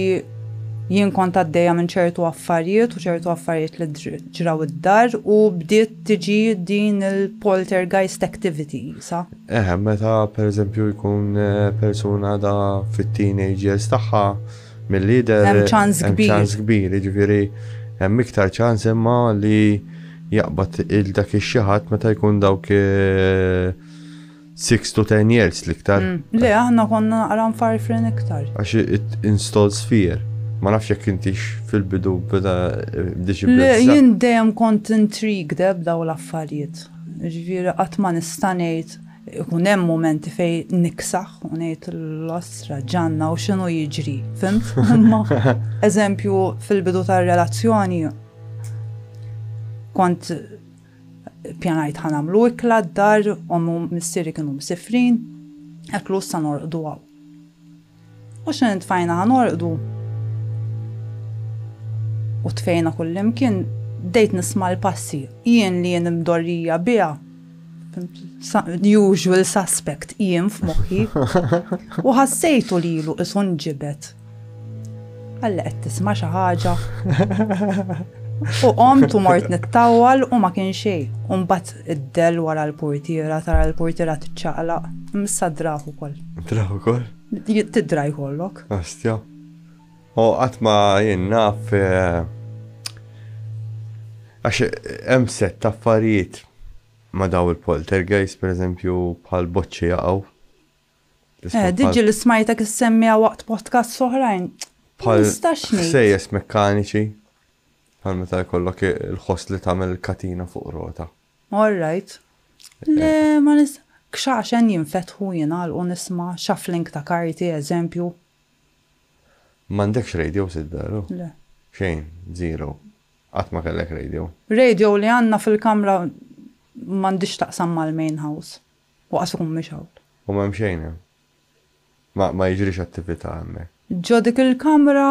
jien kont għaddejja minn ċertu affarijiet u ċertu affarijiet li Ġraw id-dar u bdiet tiġi din il-poltergeist activity, sa? Eħe, meta pereżempju jkun persuna għadha fit-teenage years tagħha, milli jidher. Hemm ċans kbir. Hemm ċans kbir, jiġifieri hemm iktar ċans imma li jaqbad il-dak ix-xi ħadd meta jkun dawk. Six to ten years l-iktar. Le, aħna konna naqra mfarfrin iktar. Għax it installs fear. Ma nafx jekk intix fil-bidu beda bdiex eh, Le, jien dejjem kont intrigued eh, b'daw l-affarijiet. Ġifieri qatt ma nista' ngħid ikun hemm momenti fej niksaħ u ngħid l-ostra ġanna u x'inhu jiġri, fimt? Imma eżempju fil-bidu tar-relazzjoni kont Pjanajt ħa nagħmlu ikla d-dar, ommi u missieri kienu msifrin, hekk lu issa norqdu hawn. U xi ntfajna ħa norqdu u tfejna kullimkien, bdejt nisma' l-passi. Jien li jien mdorrija biha, usual suspect jien f'moħħi. U ħassejtu lilu qisu nġibed. Għalla qed tisma' xi ħaġa. U qomt u mort nittawal u ma kien xejn. U mbagħad id-del wara l-portiera tara l-portiera tiċċaqlaq. Missa draħ ukoll. Draħ ukoll? Tidra jkollok. Astja. U qatt ma jien naf eh, għax hemm set ta' affarijiet ma daw il-poltergeist, per eżempju, bħal boċċi jaqgħu Eh, diġi li smajtek issemmija waqt podcast soħrajn. Bħal sejjes mekkaniċi. Bħal meta jkollok il-ħoss li tagħmel katina fuq rota. All right. Eh. Le, ma nis. Kxaxen jinfetħu jina u nisma shuffling ta' karti, eżempju. Mandekx radio sid veru? Le. Xejn, zero. Qatt ma kellek radio. Radio li għandna fil-kamra m'għandix taqsam mal-main house. U qas ikun mhix hawn. U m'hemm xejn hemm. Ma, ma jiġrix attività hemmhekk. Ġo dik il-kamra.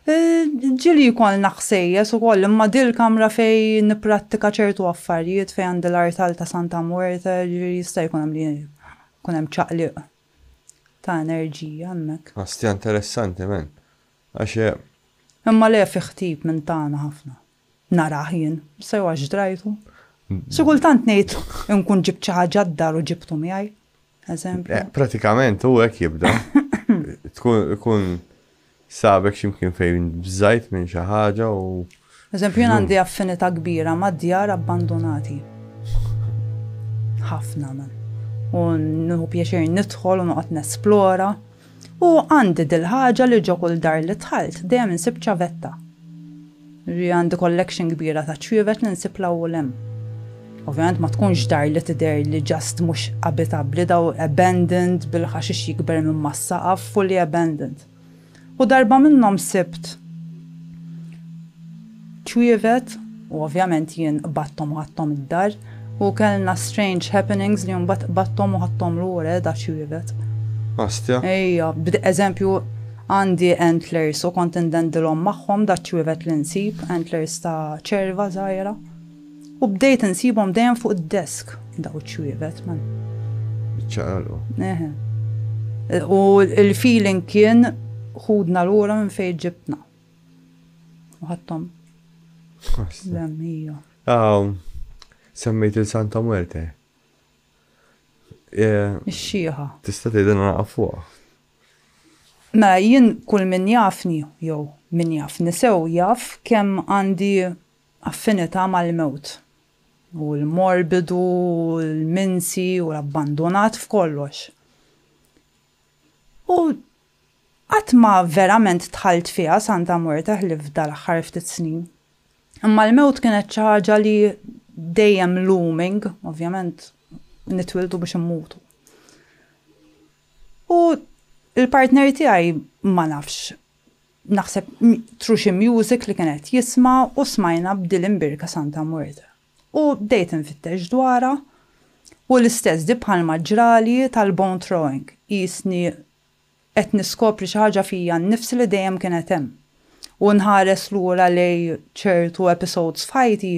Ġieli jkollna ħsejjes ukoll, imma din il-kamra fejn nipprattika ċertu affarijiet, fejn għandi l-artal ta' Santa Muerte, ġifieri jista' jkun hemm li jkun hemm ċaqliq ta' enerġija hemmhekk. Hastja interessanti, man. Għax. Imma le, fih tip minn tagħna ħafna. narah jien, sew għax drajtu. Xi kultant ngħid inkun ġibt xi ħaġa d-dar u ġibtu miegħi. Eżempju. Eh, pratikament u hekk jibda. Tkun sabek ximkien fejn bżajt minn xi ħaġa u. Eżempju jien għandi affinità kbira ma' djar abbandonati. Ħafna man. U nħu pjaċir nidħol u noqgħod nesplora. U għandi dil-ħaġa li ġo kull dar li dħalt dejjem insib ċavetta. Ġifieri għandi collection kbira ta' ċwievet li nsib 'l hawn u 'l hemm. Ovvjament ma tkunx dar li tidher li just mhux abitabbli, daw abandoned bil-ħaxix jikber minn mas-saqaf, fully abandoned. U darba minnhom sibt. ċwievet, u ovvjament jien qbadthom u ħadthom id-dar, u kellna strange happenings li mbagħad qbadthom u ħadthom lura eh da ċwievet. Astia. Ejja, bd eżempju għandi antlers u kont indendilhom magħhom da ċwievet li nsib, antlers ta' ċerva żgħira. U bdejt insibhom dejjem fuq id-desk daw iċ-ċwievet man. Iċċaqalqu. Eħe. U l-feeling kien ħudna lura minn fejn ġibtna. U ħadthom. L-għamija. Aw, semmejt il-Santa Muerte. Eh, Ix-xieħa. Tista' tgħidha naqaf fuqha. Mela jien kull min jafni jew min jaf nisew jaf kemm għandi affinità mal-mewt. U l-morbidu, l-minsi u l-abbandonat f'kollox. U Qatt ma verament dħalt fiha Santa Morta ħlief dal-aħħar ftit snin. Imma l-mewt kienet xi ħaġa li dejjem looming, ovvjament nitwieldu biex immutu. U l-partner tiegħi ma nafx naħseb tru xi music li kien qed jisma' u smajna b'dil imbierka Santa Morta. U bdejt infittex dwarha u l-istess di bħalma ġrali tal-bone throwing, qisni Qed niskopri xi ħaġa fija nnifsi li dejjem kienet hemm. U nħares lura lejn ċertu episodes f'ħajti,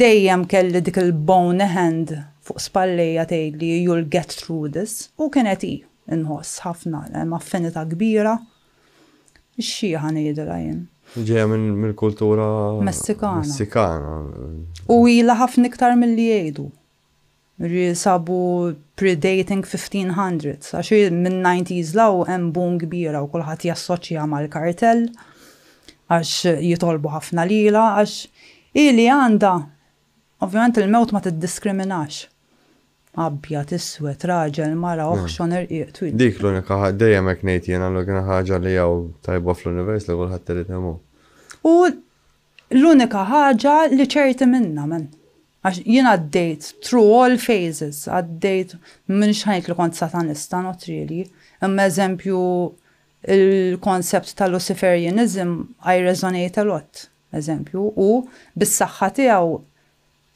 dejjem kelli dik il-bone hand fuq spallejja tgħidli you'll get through this, u kienet hi, inħoss, ħafna, hemm affinità kbira, ix-xiħa ngħidilha jien. Li ġejja mill-kultura Messikana. U ilha ħafna iktar milli jgħidu. Ġifieri sabu pre-dating 1500s għax hi minn nineties 'l hawn hemm boom kbira u kulħadd jassoċjaha mal-kartell għax jitolbu ħafna lilha għax hi li għandha Ovvjament il-mewt ma tiddiskriminax. Abjad, iswed, raġel, mara, oħxon, irqiq, twil. Dik l-unika ħaġa, dejjem hekk ngħid jiena, l-unika ħaġa li hawn tajba fl-univers li kulħadd irid imut. U L-unika ħaġa li ċerti minnha, man, għax jien għaddejt through all phases, għaddejt, m'iniex ħa ngħid li kont Satanista, not really, imma eżempju l-concept ta' Luciferianism I resonate a lot, eżempju, u bis-saħħa tiegħu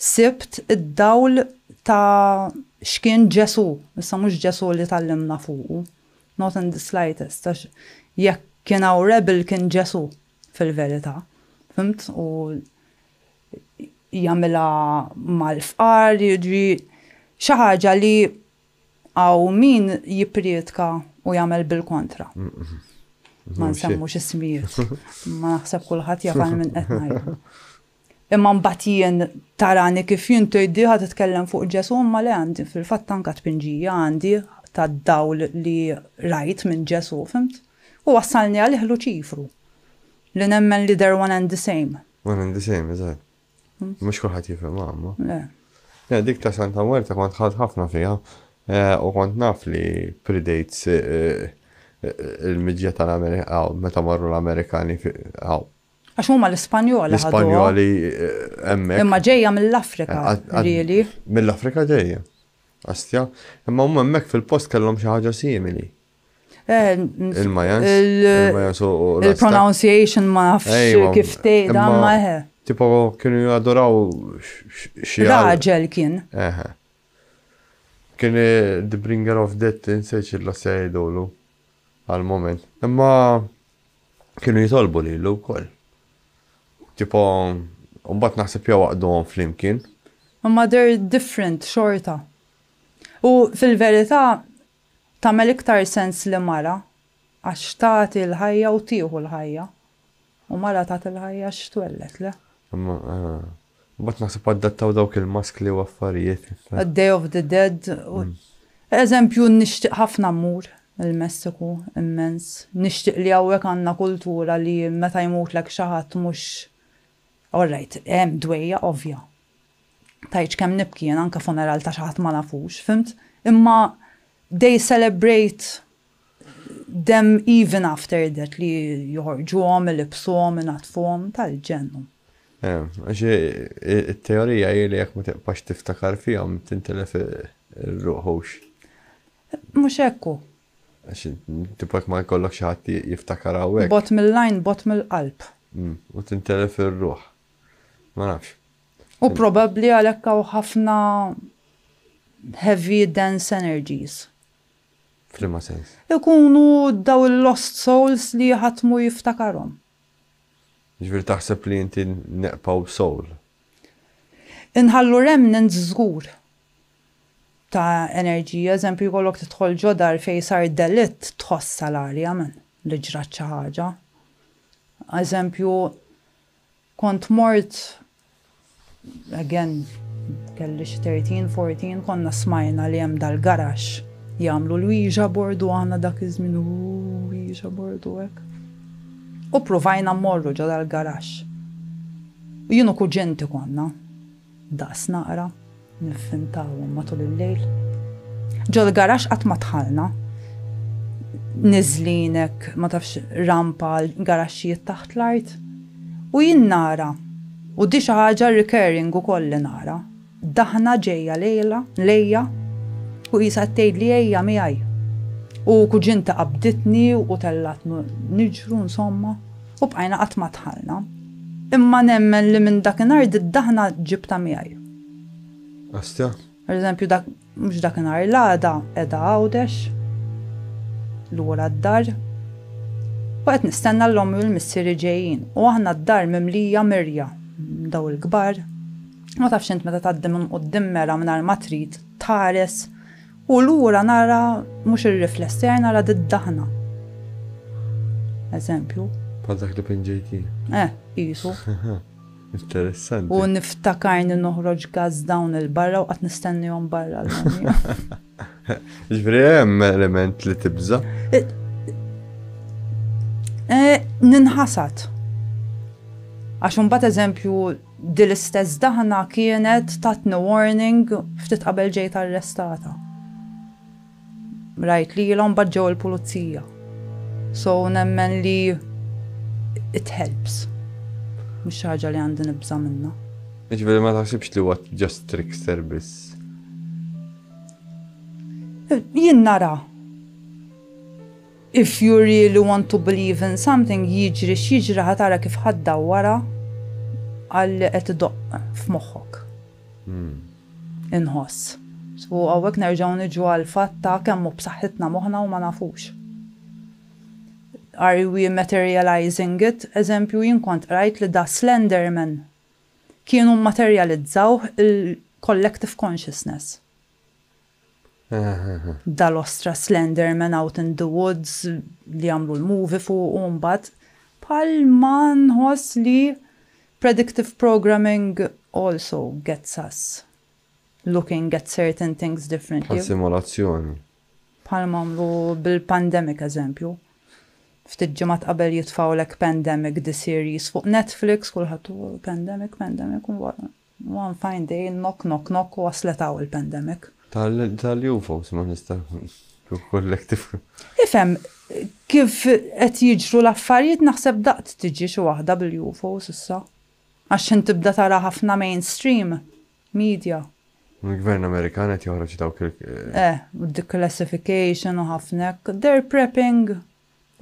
sibt id-dawl ta' x'kien Ġesù, issa mhux Ġesù li tgħallimna fuqu, not in the slightest, għax jekk kien hawn rebel kien Ġesù. fil-verità, fimt? U jagħmilha mal-fqar, jiġri xi ħaġa li għaw min jipprietka u jagħmel bil-kontra. Ma nsemmux ismijiet, ma naħseb kulħadd jaf għal min qed ngħidu. Imma mbagħad jien tarani kif jien tgħidli ħa titkellem fuq Ġesù imma le għandi fil-fatt anke tpinġija għandi tad-dawl li rajt minn Ġesù, fhimt? U wassalni għalih Luċifru. Li nemmen li they're one and the same. One and the same, eżatt. Mhux kulħadd jifhimha imma. Le. Le, dik ta' Santa Mwerta kont ħadd ħafna fiha u kont naf li predates il-miġja tal-Amerika, meta marru l-Amerikani hawn. Għax huma l-Ispanjoli. L-Ispanjoli hemmhekk. Imma ġejja mill-Afrika, really. Mill-Afrika ġejja. Astja, imma huma hemmhekk fil-post kellhom xi ħaġa simili. Il-Majans. Il-pronunciation ma nafx kif tgħidha ma eħe. Tipo kienu jadoraw xi raġel kien. Eħe. Kien the bringer of death inseċ il-la sejdu l-lu. għall-mument. Imma kienu jitolbu lilu wkoll. Tipo, u mbagħad naħseb jew għaqduhom flimkien. Imma they're different xorta. U fil-verità tagħmel iktar sens li mara għax tagħti l-ħajja u tieħu l-ħajja. U mara tat il-ħajja għax twelled, le? Imma, imbagħad naħseb adattaw dawk il-maskli u affarijiet. Day of the Dead u Eżempju nixtieq ħafna mmur il-Messiku, immens. Nixtieq li hawnhekk għandna kultura li meta jmutlek xi ħadd mhux All right, hemm dwejjaq ovvja. Tgħidx kemm nibki jien anke funeral ta' xi ħadd ma nafux, fhimt? Imma they celebrate Them even after that li joħorġuhom, ilibsuhom, inaddfuhom, tal-ġenn. Ehm, għax it-teorija hi li jekk ma tibqax tiftakar fihom tintilef ir-ruħ hux. Mhux hekk hu. Għax tipek ma jkollok xi ħadd jiftakar hawnhekk. Bot mill-lajn, bot mill-qalb. Mm, u tintelef ir-ruħ. Ma nafx. U probabbli għalhekk hawn ħafna heavy dense energies. F'liema sens? Ikunu daw il-lost souls li ħadd mhu jiftakarhom. Jiġifieri taħseb li inti neqpaw b'soul? Inħallu remnants żgur ta' enerġija. Eżempju jkollok tidħol ġo dar fejn sar delitt tħossha l-arja man li ġrat xi ħaġa. Eżempju. Kont mort, again, kelli xi 13, 14, konna smajna li hemm dal-garaxx jagħmlu l-Ouija board u aħna dak iż-żmien Ouija board u hekk. U pruvajna mmorru ġo dal-garaxx. U jien u kuġinti konna. Daqs naqra, nivvintawhom matul il-lejl. Ġol-garaxx qatt ma dħalna. Niżlin hekk, ma tafx, rampa għal garaxxijiet taħt l-art. U jien nara, u di xi ħaġa recurring ukoll li nara, daħna ġejja lejla, lejja, u qisha qed tgħidli ejja miegħi. U kuġinti qabditni u tellgħatni niġru, insomma. U bqajna qatt ma dħalna. Imma nemmen li minn dakinhar did-daħna ġibtha miegħi. Astja. Per eżempju dak mhux dakinhar l-għada qiegħda Għawdex lura d-dar. U qed nistenna l-ommi u l-missieri ġejjin u aħna d-dar mimlija mirja daw il-kbar. Ma tafx int meta tgħaddi minn quddiem mera mingħajr ma trid tħares U lura nara mhux ir-rifless tiegħi nara did-daħna. Eżempju. Bħal dak li pinġejt jien. Eh, qisu. Interessanti. U niftakarni noħroġ gaz dawn il-barra u qatt nistennihom barra l-ħamja. Ġifieri hemm element li tibża. Eh, eh, ninħasad. Għax imbagħad eżempju Din l-istess daħna kienet tatni warning ftit qabel ġejt arrestata. Rajt lilha u mbagħad ġew il-pulizija. So nemmen li it helps. Mhux xi ħaġa li għandi nibża' minnha. Jiġifieri ma taħsibx li huwa just trickster biss? Jien nara. If you really want to believe in something, jiġri x'jiġri ħa tara kif ħa ddawwarha għal li qed idoqq f'moħħok. Inħoss. U hawnhekk nerġgħu niġu għall-fatt ta' kemm hu b'saħħitna moħħna u ma nafux. Are we materializing it? Eżempju, jien kont qrajt li da Slenderman kienu mmaterjalizzawh il-collective consciousness. dal-ostra Slenderman Out in the Woods li għamlu l-movie fuqu mbagħad, bħal ma nħoss li predictive programming also gets us looking at certain things differently. Bħal simulazzjoni. Bħal ma għamlu bil-pandemic eżempju. Ftit ġimgħat qabel jitfgħulek pandemic the series fuq Netflix kulħadd pandemic, pandemic u One fine day, knock knock knock, waslet hawn il-pandemic. Tal-jum forsi ma nista' nkun collective. Ifhem, kif qed jiġru l-affarijiet naħseb daqt tiġi xi waħda bil-UFOs issa. Għax x'ħin tibda tara ħafna mainstream media. Il-Gvern Amerikan qed joħroġ dawk il-. Eh, u d-declassification u ħafna hekk. They're prepping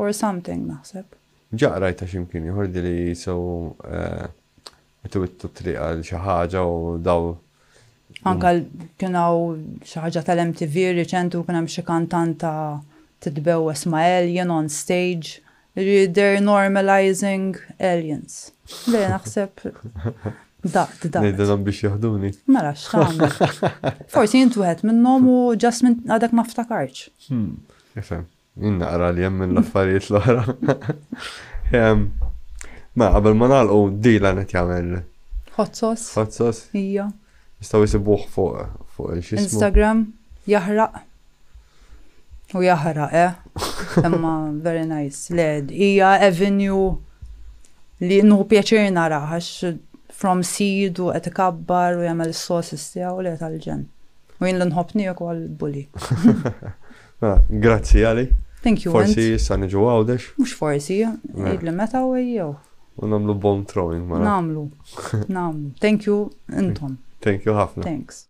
Or something, naħseb. Ġa qrajtha xi mkien ieħor di li so qed iwittu t-triq għal xi ħaġa u daw. Anke kien hawn xi ħaġa tal-MTV riċenti u kien hemm xi kantanta titbewwes ma' alien on stage. Jiġifieri they're normalizing aliens. Le naħseb daqt daqt. Ngħidilhom biex jaħduni. Mela x'tagħmel. Forsi int wieħed minnhom u just għadek ma ftakartx. Nifhem. Jien naqra li hemm l-affarijiet l-oħra. Ma qabel ma nagħlqu dila qed jagħmel. Ħozzos. Ħozzos. Ija. Jistgħu jisibuh fuq fuq il-xismu. Instagram jaħraq. U jaħraq, eh? Imma very nice. Le, hija avenue li nu pjaċir naraħax from seed u qed ikabbar u jagħmel is-sosis tiegħu li tal-ġen. U jien l-nħobni ukoll bully. Ah, grazzi għali. Thank you. Forsi issa niġu għawdex. Mux forsi, idli meta u jew. U namlu bomb throwing, ma. Namlu, namlu. Thank you, intom. Thank you ħafna. Thanks.